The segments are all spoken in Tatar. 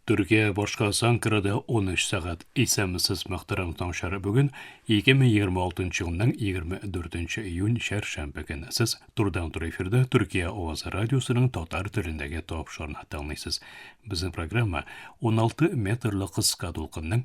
Төркия башкасы Анкарада 13 сәгать. Исәнмесез, мөхтәрәм таңчылар. Бүген 2026 елның 24 июнь чәршәмбе көне. Сез турыдан-туры эфирда Төркия авазы радиосының татар телендәге тапшырына тыңлыйсыз. Безнең программа 16 метрлы кыска дулкынның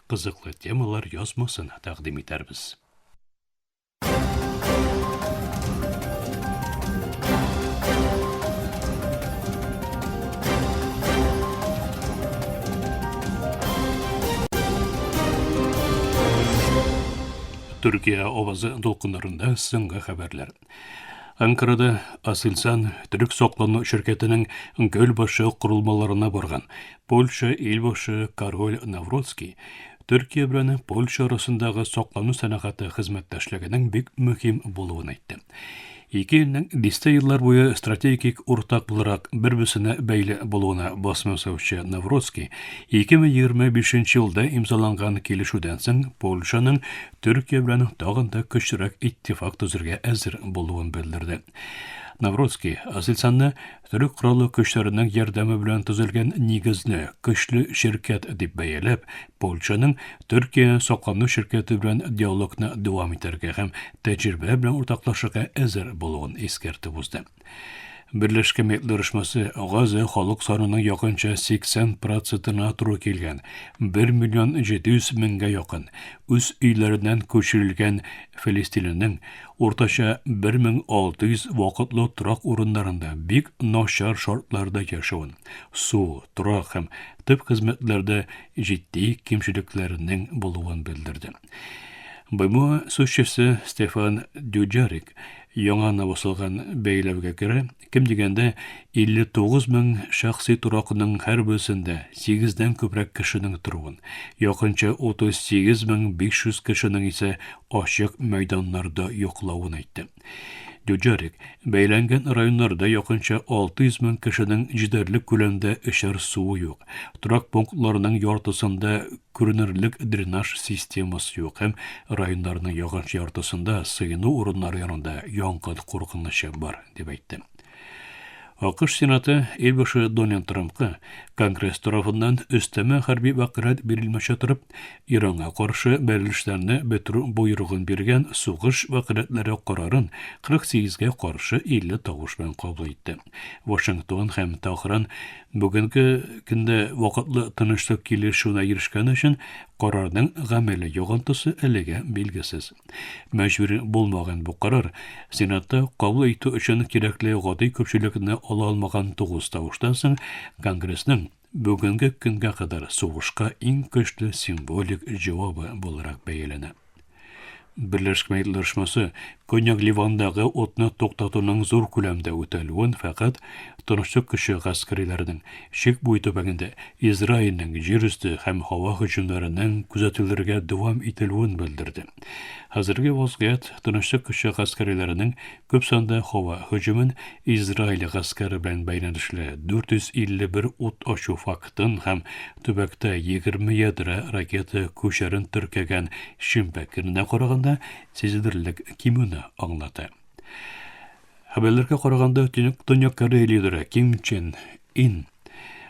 кызыклы темалар язмасына тәкъдим итәрбез. Төркия авазы дулкыннарында соңгы хәбәрләр. Анкарада Асельсан төрек саклану ширкәтенең Гөлбашы корылмаларына барган Польша илбашы король Навроцкий Төркия белән Польша арасындагы саклану сәнәгате хезмәттәшлегенең бик мөһим булуын әйтте. Ике илнең дистә еллар буе стратегик уртак буларак бер-берсенә бәйле булуына басым ясаучы Навроцкий 2025 елда имзаланган килешүдән соң Польшаның Төркия белән тагын да көчлерәк иттифак төзергә әзер булуын белдерде. Навроцкий Азельсанны төрек кораллы көчләренең ярдәме белән төзелгән нигезле, көчле ширкәт дип бәяләп, Польшаның Төркия соклану ширкәте белән диалогны дәвам итәргә һәм тәҗрибә белән уртаклашырга әзер булуын искәртеп узды. Берләшкән Милләтләр оешмасы Газә халык санының якынча 80 процентына туры килгән, 1 миллион 700 меңгә якын, үз өйләреннән күчерелгән филистинләрнең уртача 1600 вакытлы торак урыннарында бик начар шартларда яшәвен, су, торак һәм төп хезмәтләрдә җитди кимчелекләрнең булуын белдерде. БМО сүзчесе Стефан Дюджарик яңа наваслыгын бәйләүгә күрә, кем дигәндә 59 мең шәхси торакның һәр берсендә 8-дән күбрәк кешенең торуын, якынча 38 мең 500 кешенең исә ачык мәйданнарда йоклавын әйтте. Дюджерик, бәйләнгән районнарда якынча 600 мең кешенең җитәрлек күләмдә эчәр суы юк. Торак пунктларының яртысында күренерлек дренаж системасы юк һәм районнарның якынча яртысында сыену урыннары янында янгын куркынычы бар, дип әйтте. АКШ Сенаты ил башы Дональд Трампка Конгресс тарафыннан өстәмә хәрби вәкаләт бирелмичә торып, Иранга каршы бәрелешләрне бетерү боерыгын биргән сугыш вәкаләтләре карарын 48 га каршы 50 тавыш белән кабул итте. Вашингтон һәм Тәһран бүгенге көндә вакытлы тынычлык килешүенә ирешкән өчен карарның гамәли йогынтысы әлегә билгесез. Мәҗбүр булмаган бу карар Сенатта кабул итү өчен кирәкле гади күпчелекне ала алмаган тугыз тавыштан соң Конгрессның бүгенге көнгә кадәр сугышка иң көчле символик җавабы буларак бәяләнә. Берләшкән Милләтләр Оешмасы Көньяк Ливандагы утны туктатуның зур күләмдә үтәлүен фәкать тынычлык көче гаскәриләренең Чик буе төбәгендә Израильнең җир өсте һәм һава һөҗүмнәренең күзәтелергә дәвам ителүен белдерде. Хәзерге вазгыять Тынычлык көче гаскәриләренең күп санда һава һөҗүмен Израиль гаскәре белән бәйләнешле 451 ут ачу фактын һәм төбәктә 20 ядрә ракета күчәрен теркәгән шимбә көненә караганда сизелерлек кимүне аңлата. Хәбәрләргә караганда, Төньяк Корея лидеры Ким Чен Ин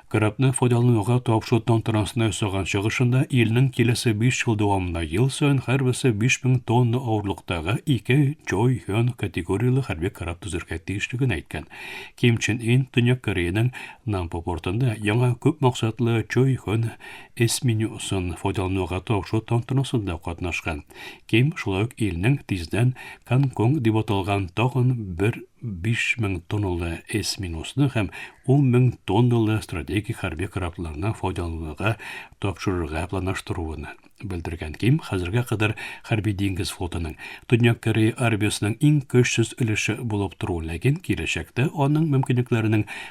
корабны файдалануга тапшыру тантанасында ясаган чыгышында илнең киләсе 5 ел дәвамында ел саен һәрберсе 5000 тонна авырлыктагы ике Чой Хён категорияле хәрби кораб төзергә тиешлеген әйткән. Ким Чен Ин Төньяк Кореяның Нампо портында яңа күп максатлы Чой Хён эс менюсын файдалануга тапшыру тантанасында катнашкан. Ким шулай ук илнең тиздән Конконг дип аталган тагын бер 5000 тонналы эс менюсны һәм 10 мең тонналы стратегик хәрби корабларны файдалануга тапшырырга планлаштыруын белдергән Ким хәзергә кадәр хәрби диңгез флотының Төньяк Корея армиясенең иң көчсез өлеше булып тору, ләкин киләчәктә аның мөмкинлекләренең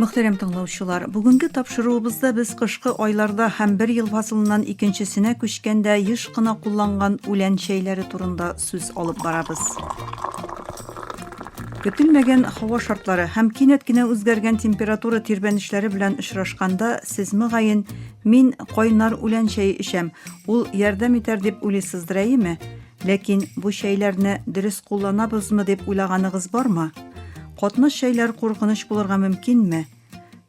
Мөхтәрәм тыңлаучылар, бүгенге тапшыруыбызда без кышкы айларда һәм бер ел фасылыннан икенчесенә күчкәндә еш кына кулланган үлән чәйләре турында сүз алып барабыз. Көтелмәгән һава шартлары һәм кинәт кенә үзгәргән температура тирбәнешләре белән очрашканда, сез мөгаен, мин кайнар үлән чәе эчәм, ул ярдәм итәр дип уйлыйсыздыр, әйеме? Ләкин бу чәйләрне дөрес кулланабызмы дип уйлаганыгыз бармы? Катнаш чәйләр куркыныч булырга мөмкинме?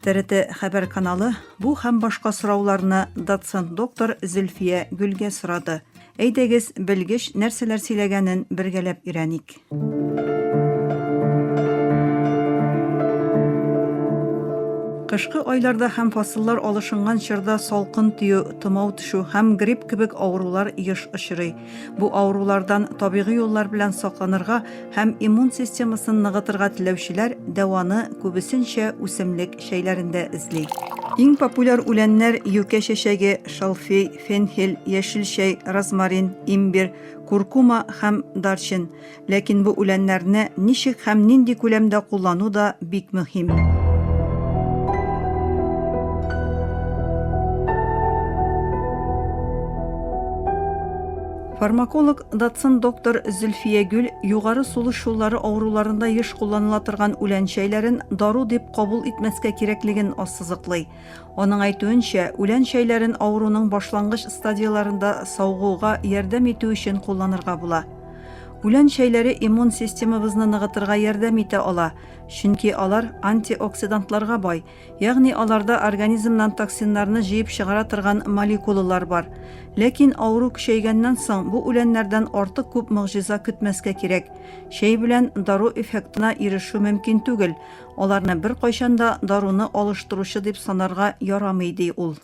ТРТ хәбәр каналы бу һәм башка сорауларны доцент доктор Зөлфия Гөлгә сорады. Әйдәгез, белгеч нәрсәләр сөйләгәнен бергәләп өйрәник. Кышкы айларда һәм фасыллар алышынган чорда салкын тию, томау төшү һәм грипп кебек авырулар еш очрый. Бу авырулардан табигый юллар белән сакланырга һәм иммун системасын ныгытырга теләүчеләр дәваны күбесенчә үсемлек чәйләрендә эзли. Иң популяр үләннәр юкә чәчәге, шалфей, фенхель, яшел чәй, розмарин, имбир, куркума һәм дарчин. Ләкин бу үләннәрне ничек һәм нинди күләмдә куллану да бик мөһим. Фармаколог Датсон доктор Зөлфия Гүл югары сулыш юллары авыруларында еш кулланыла торган үлән чәйләрен дару дип кабул итмәскә кирәклеген ассызыклый. Аның әйтүенчә, үлән чәйләрен авыруның башлангыч стадияләрендә савыгуга ярдәм итү өчен кулланырга була. Үлән чәйләре иммун системабызны ныгытырга ярдәм итә ала, чөнки алар антиоксидантларга бай, ягъни аларда организмнан токсиннарны җыеп чыгара торган молекулалар бар. Ләкин авыру көчәйгәннән соң бу үләннәрдән артык күп могҗиза көтмәскә кирәк. Чәй белән дару эффектына ирешү мөмкин түгел. Аларны беркайчан да даруны алыштыручы дип санарга ярамый, ди ул.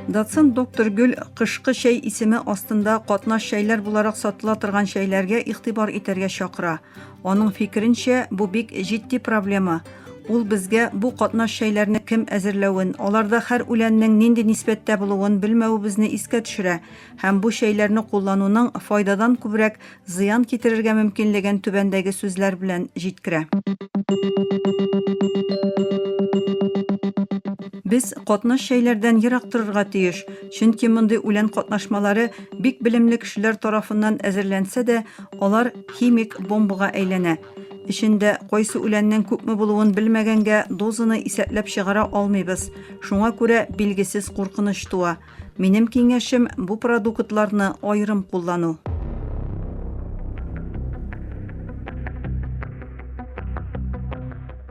Доцент доктор Гөл кышкы чәй исеме астында катнаш чәйләр буларак сатыла торган чәйләргә игътибар итәргә чакыра. Аның фикеренчә, бу бик җитди проблема. Ул безгә бу катнаш чәйләрне кем әзерләвен, аларда хәр үләннең нинди нисбәттә булуын белмәвебезне искә төшерә. Һәм бу чәйләрне куллануның файдадан күбрәк зыян китерергә мөмкинлеген түбәндәге сүзләр белән җиткерә. Без катнаш чәйләрдән ерак торырга тиеш, чөнки мондый үлән катнашмалары бик белемле кешеләр тарафыннан әзерләнсә дә, алар химик бомбага әйләнә. Эчендә кайсы үләннең күпме булуын белмәгәнгә, дозаны исәпләп чыгара алмыйбыз. Шуңа күрә билгесез куркыныч туа. Минем киңәшем бу продуктларны аерым куллану.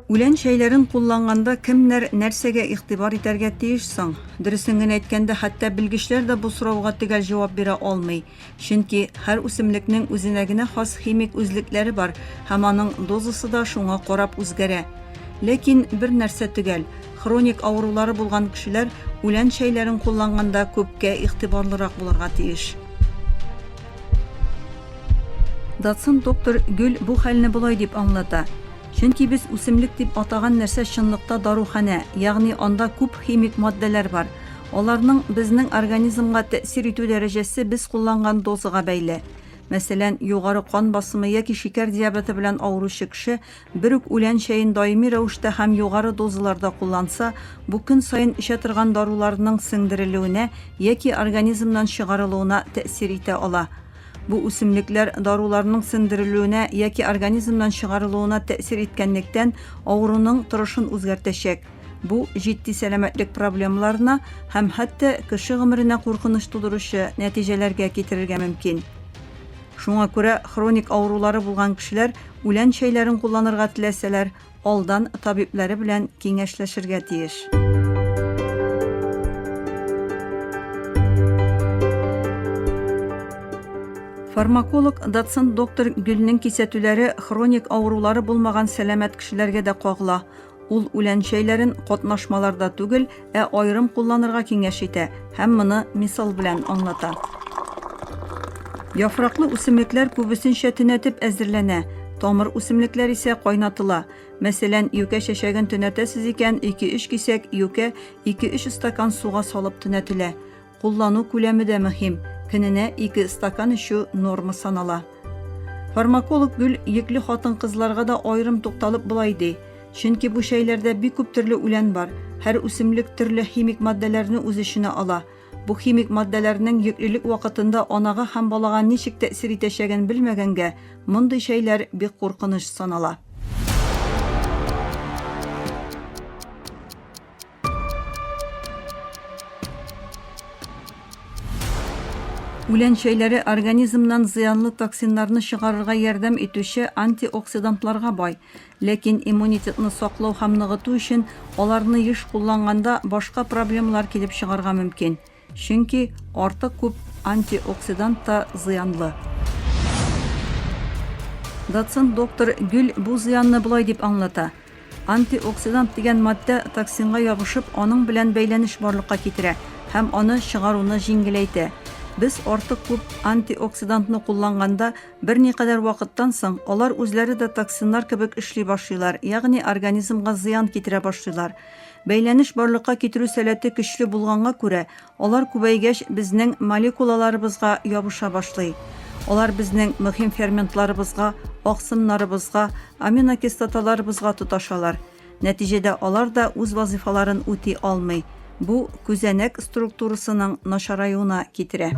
Үлән чәйләрен кулланганда кемнәр нәрсәгә игътибар итәргә тиеш соң? Дөресен генә әйткәндә, хәтта белгечләр дә бу сорауга төгәл җавап бирә алмый. Чөнки һәр үсемлекнең үзенә генә хас химик үзлекләре бар һәм аның дозасы да шуңа карап үзгәрә. Ләкин бер нәрсә төгәл, хроник авырулары булган кешеләр үлән чәйләрен кулланганда күпкә игътибарлырак булырга тиеш. Доцент доктор Гөл бу хәлне болай дип аңлата, Чөнки без үсемлек дип атаган нәрсә чынлыкта даруханә, ягъни анда күп химик матдәләр бар. Аларның безнең организмга тәэсир итү дәрәҗәсе без кулланган дозага бәйле. Мәсәлән, югары кан басымы яки шикәр диабеты белән авыручы кеше бер үк үлән чәен даими рәвештә һәм югары дозаларда кулланса, бу көн саен эчә торган даруларының сеңдерелүенә яки организмнан чыгарылуына тәэсир итә ала. Бу үсемлекләр даруларның сеңдерелүенә яки организмнан чыгарылуына тәэсир иткәнлектән, авыруның торышын үзгәртәчәк. Бу җитди сәламәтлек проблемаларына һәм хәтта кеше гомеренә куркыныч тудыручы нәтиҗәләргә китерергә мөмкин. Шуңа күрә хроник авырулары булган кешеләр үлән чәйләрен кулланырга теләсәләр, алдан табиблары белән киңәшләшергә тиеш. Фармаколог, доцент доктор Гөлнең кисәтүләре хроник авырулары булмаган сәламәт кешеләргә дә кагыла. Ул үлән чәйләрен катнашмаларда түгел, ә аерым кулланырга киңәш итә һәм моны мисал белән аңлата. Яфраклы үсемлекләр күбесенчә төнәтеп әзерләнә, тамыр үсемлекләр исә кайнатыла. Мәсәлән, юкә чәчәген төнәтәсез икән, 2-3 кисәк юкә 2-3 стакан суга салып төнәтелә. Куллану күләме дә мөһим, көненә ике стакан эчү норма санала. Фармаколог Гөл йөкле хатын-кызларга да аерым тукталып болай ди, чөнки бу чәйләрдә бик күп төрле үлән бар, һәр үсемлек төрле химик матдәләрне үз эченә ала. Бу химик матдәләрнең йөклелек вакытында анага һәм балага ничек тәэсир итәчәген белмәгәнгә, мондый чәйләр бик куркыныч санала. Үлән чәйләре организмнан зыянлы токсиннарны чыгарырга ярдәм итүче антиоксидантларга бай. Ләкин иммунитетны саклау һәм ныгыту өчен аларны еш кулланганда башка проблемалар килеп чыгарга мөмкин. Чөнки артык күп антиоксидант та зыянлы. Доцент доктор Гюль бу зыянны болай дип аңлата, Антиоксидант дигән матдә токсинга ябышып, аның белән бәйләнеш барлыкка китерә һәм аны чыгаруны җиңеләйтә. Без артык күп антиоксидантны кулланганда, берникадәр вакыттан соң, алар үзләре дә токсиннар кебек эшли башлыйлар, ягъни организмга зыян китерә башлыйлар. Бәйләнеш барлыкка китерү сәләте көчле булганга күрә, алар күбәйгәч безнең молекулаларыбызга ябыша башлый. Алар безнең мөһим ферментларыбызга, аксымнарыбызга, аминокислоталарыбызга тоташалар. Нәтиҗәдә алар да үз вазыйфаларын үти алмый. Бу күзәнәк структурасының начараюына китерә.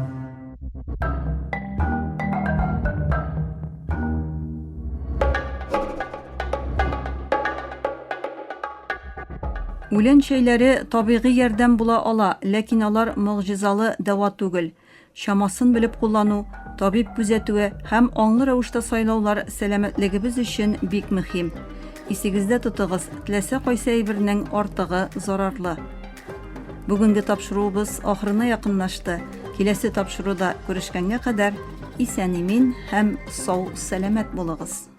Үлән чәйләре табигый ярдәм була ала, ләкин алар могҗизалы дәва түгел. Чамасын белеп куллану, табиб күзәтүе һәм аңлы рәвештә сайлаулар сәламәтлегебез өчен бик мөһим. Исегездә тотыгыз, теләсә кайсы әйбернең артыгы зарарлы. Бүгенге тапшыруыбыз ахырына якынлашты. Киләсе тапшыруда күрешкәнгә кадәр исән-имин һәм сау-сәламәт булыгыз!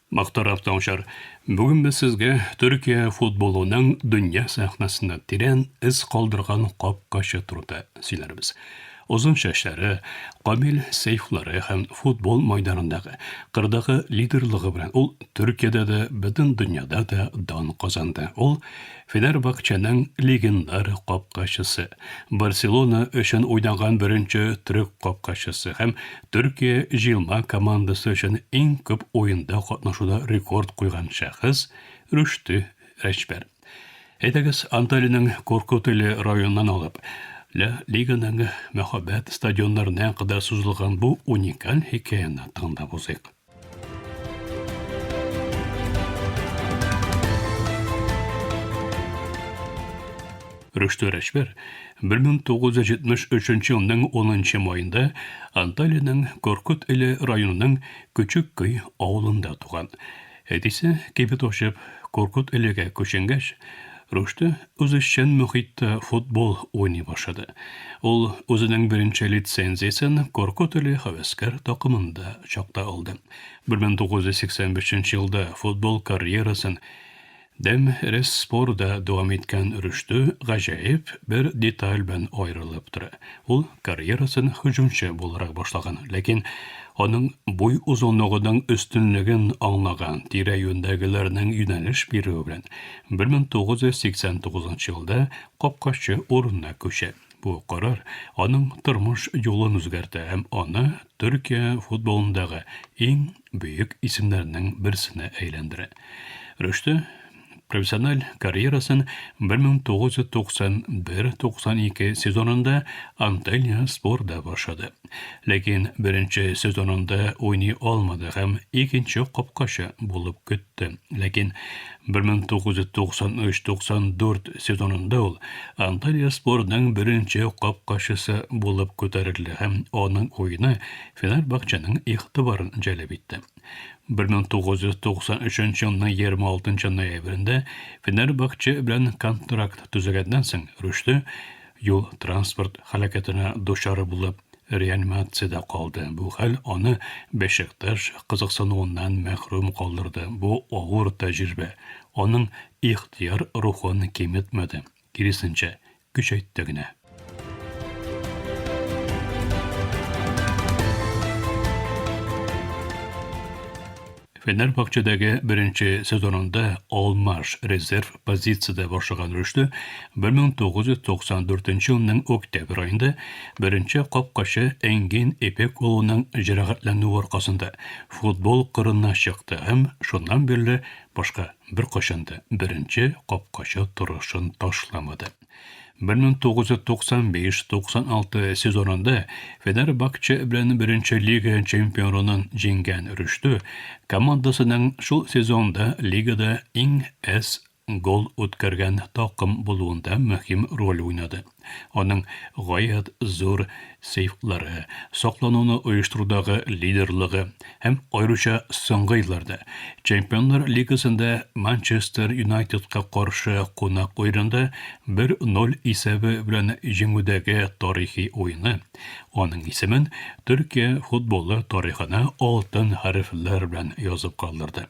Мохтаров Таучар, бүген без сезгә Төркия футболының дөнья сәхнәсендә тирән эз калдырган капкачы турында сөйләрбез. Озын чәчләре, камил сыйфлары һәм футбол майданындагы, кырдагы лидерлыгы белән ул Төркиядә дә, бөтен дөньяда да дан казанды. Ул Фенербахченың легендар капкачысы, Барселона өчен уйнаган беренче төрек капкачысы һәм Төркия җыелма командасы өчен иң күп уенда катнашуда рекорд куйган шәхес, Рөште Рәҗпәр. Әйдәгез, Анталиянең Коркутели районыннан алып, Ла Лиганың мәһабәт стадионнарына кадәр сузылган бу уникаль хикәяне тыңлап узыйк. Рөштә Рәшбәр 1973 елның 10 маенда Анталиянең Коркут иле районының Көчек Көй авылында туган. Әтисе кибет ачып, Коркут илегә күченгәч, Рөштә Үзешчән мөхиттә футбол уйный башлады. Ул үзенең беренче лицензиясен Коркут иле һәвәскәр такымында чакта алды. 1985 елда футбол карьерасын Дәм Ресспорда дәвам иткән Рөштү гаҗәеп бер деталь белән аерылып тора. Ул карьерасын һөҗүмче буларак башлаган, ләкин аның буй озынлыгының өстенлеген аңлаган тирә-юньдәгеләрнең юнәлеш бирүе белән 1989 елда капкачы урынына күчә. Бу карар аның тормыш юлын үзгәртә һәм аны Төркия футболындагы иң бөек исемнәрнең берсенә әйләндерә. Рөштә профессиональ карьерасын 1991-92 сезонында Анталия спорда башлады. Ләкин беренче сезонында уйный алмады һәм икенче капкачы булып көтте. кайтты. Ләкин 1993-94 сезонында ул Анталия спорының беренче капкачысы булып күтәрелде һәм аның уены Фенербахченың игътибарын җәлеп итте. 1993 елның 26 ноябрендә Фенербахче белән контракт төзегәннән соң Рөште юл-транспорт һәлакәтенә дучар булып реанимациядә калды. Бу хәл аны Бәшикташ кызыксынуыннан мәхрүм калдырды. Бу авыр тәҗрибә аның ихтыяр рухын киметмәде, киресенчә, көчәйтте генә. Фенербахчедәге беренче сезонында Алмаш резерв позициядә башлаган рөштө 1994 елның октябрь аенда беренче капкачы Энгин Эпек улының җәрәхәтләнүе аркасында футбол кырына чыкты һәм шуннан бирле башка беркайчан да беренче капкачы торышын ташламады. 1995-96 сезонында Фенербакче белән беренче лига чемпионын җиңгән Рөштү командасының шул сезонда лигада иң әз гол үткәргән такым булуында мөһим роль уйнады. Аның гаять зур сейфлары, саклануны оештырудагы лидерлыгы һәм аеруча соңгы елларда Чемпионнар лигасында Манчестер Юнайтедка каршы кунак уенында 1-0 исәбе белән җиңүдәге тарихи уены аның исемен Төркия футболы тарихына алтын хәрефләр белән язып калдырды.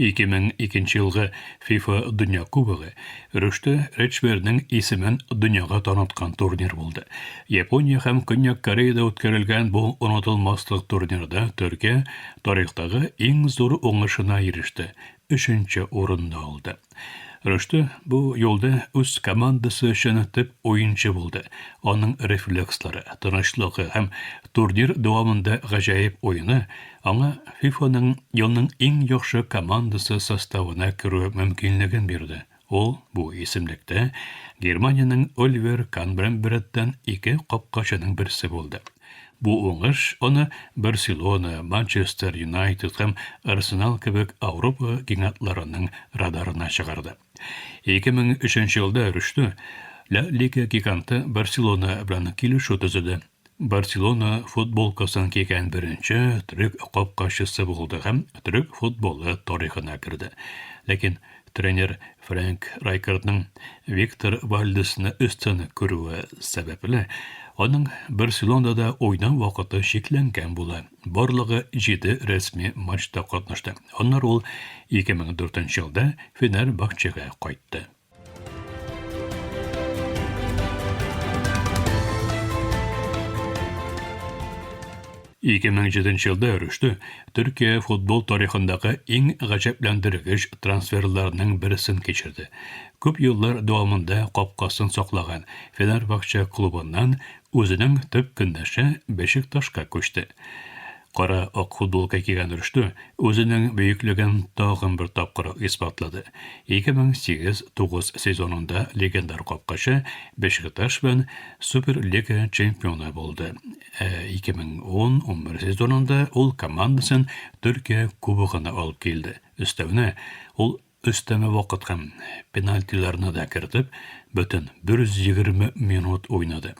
Ике мең икенче елгы ФИФА дөнья кубогы Рөштә Речберның исемен дөньяга таныткан турнир булды. Япония һәм Көньяк Кореяда үткәрелгән бу онытылмаслык турнирда Төркия тарихтагы иң зур уңышына иреште, өченче урынны алды. Рөштә бу юлда үз командасы өчен төп уенчы булды. Аның рефлекслары, тынычлыгы һәм турнир дәвамында гаҗәеп уены аңа ФИФАның елның иң яхшы командасы составына керү мөмкинлеген бирде. Ул бу исемлектә Германиянең Оливер Кан белән беррәттән ике капкачының берсе булды. Бу уңыш аны Барселона, Манчестер Юнайтед һәм Арсенал кебек Ауропа гигантларының радарына чыгарды. 2003 елда Рөштү Ла Лига гиганты Барселона белән килешү төзеде. Барселона футболкасын кигән беренче төрек капкачысы булды һәм төрек футболы тарихына керде. Ләкин Тренер Фрэнк Райкардның Виктор Вальдесны өстен күрүе сәбәпле, аның Барселонада да уйнау вакыты чикләнгән була. Барлыгы җиде рәсми матчта катнашты. Аннары ул 2004 елда Фенербахчега кайтты. 2007 елда Рөштө Төркия футбол тарихындагы иң гаҗәпләндергеч трансферларның берсен кичерде. Күп еллар дәвамында капкасын саклаган Фенербахче клубыннан үзенең төп көндәше Бешикташка күчте. Кара ак футболка кигән Рөштө үзенең бөеклеген тагын бер тапкыр исбатлады. 2008-9 сезонында легендар капкачы Бешикташ белән Суперлига чемпионы булды. 2010-11 сезонында ул командасын Төркия кубогына алып килде. Өстәвенә, ул өстәмә вакыт һәм пенальтиларны да кертеп, бөтен 120 минут уйнады.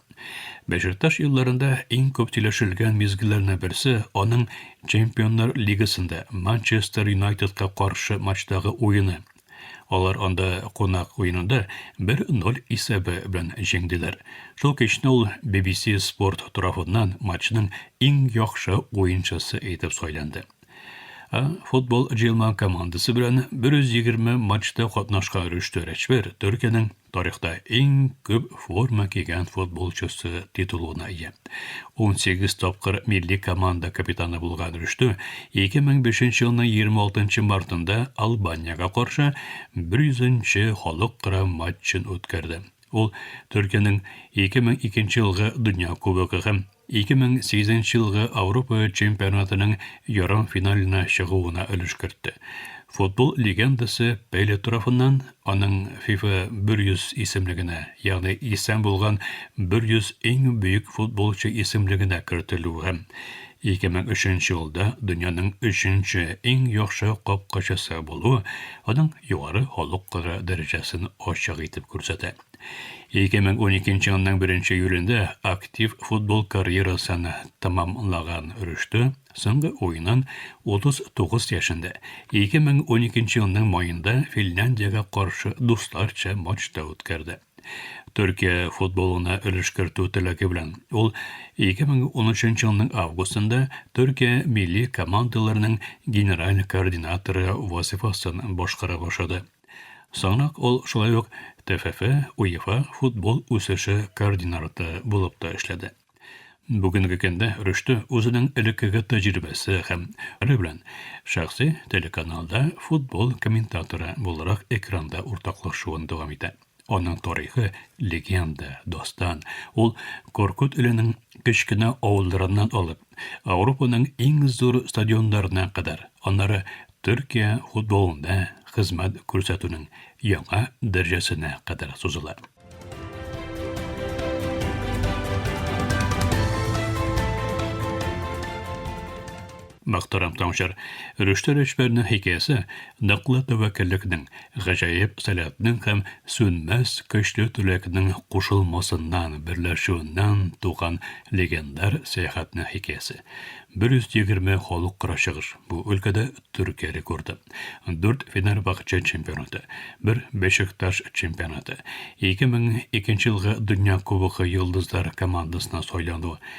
Бәшикташ елларында иң күп сөйләшелгән мизгелләрнең берсе аның Чемпионнар лигасында Манчестер Юнайтедка каршы матчтагы уены. Алар анда кунак уенында бер ноль исәбе белән җиңделәр. Шул кичне ул BBC Sport торагыннан матчның иң яхшы уенчысы итеп сайланды. А футбол җыелма командасы белән 120 матчта катнашкан Рөштә Рәчбәр Төркиянең Тарихта иң күп форма кигән футболчысы титулына ия. Унсигез тапкыр милли команда капитаны булган Рөштү 2005 елның 26 мартында Албаниягә каршы 100 нче халыкара матчын үткәрде. Ул Төркиянең 2002 елгы Дөнья кубогы һәм 2008 елгы Ауропа чемпионатының ярымфиналына чыгуына өлеш кертте. Футбол легендасы Пеле тарафыннан аның FIFA 100 исемлегенә, ягъни исән булган 100 иң бөек футболчы исемлегенә кертелүе һәм 2003 елда дөньяның өченче иң яхшы капкачысы булуы аның югары халыкара дәрәҗәсен ачык итеп күрсәтә. 2012 елның 1 июлендә актив футбол карьерасын тәмамлаган Рөштө соңгы уенын 39 яшендә 2012 елның маенда Финляндиягә каршы дусларча матчта үткәрде. Төркия футболына өлеш кертү теләге белән ул 2013 елның августында Төркия милли командаларының генераль координаторы вазифасын башкара башлады. Соңрак ул шулай ук ТФФ, УЕФА футбол үсеше координарты булып та эшләде. Бүгенге көндә Рөштө үзенең элеккеге тәҗрибәсе һәм ре белән шәхси телеканалда футбол комментаторы буларак экранда уртаклашуын дәвам итә. Аның тарихы, легенда, дастан. Ул Коркут иленең кечкенә авылларыннан алып, Ауропаның иң зур стадионнарына кадәр, аннары Төркия футболында хезмәт күрсәтүнең яңа дәрәҗәсенә кадәр сузыла. Мөхтәрәм Санжар, Рөштә Рәҗбәрнең хикәясе ныклы тәвәккәллекнең, гаҗәеп сәләтнең һәм сүнмәс көчле теләкнең кушылмасыннан, берләшүеннән туган легендар сәяхәтнең хикәясе. 120 халыкара чыгыш, бу өлкәдә Төркия рекорды, дүрт Фенербахче чемпионаты, бер Бешикташ чемпионаты, 2002 елгы Дөнья Кубогы йолдызлар командасына сайлану,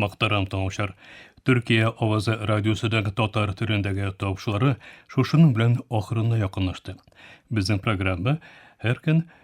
Мактарам тыңлаучылар. Төркия авазы радиосыдагы татар төрендәге тавышлары шушының белән ахырына якынлашты. Безнең программа һәр көн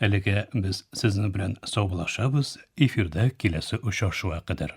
Әлегә без сезнең белән саубулашабыз, эфирда киләсе очрашуга кадәр.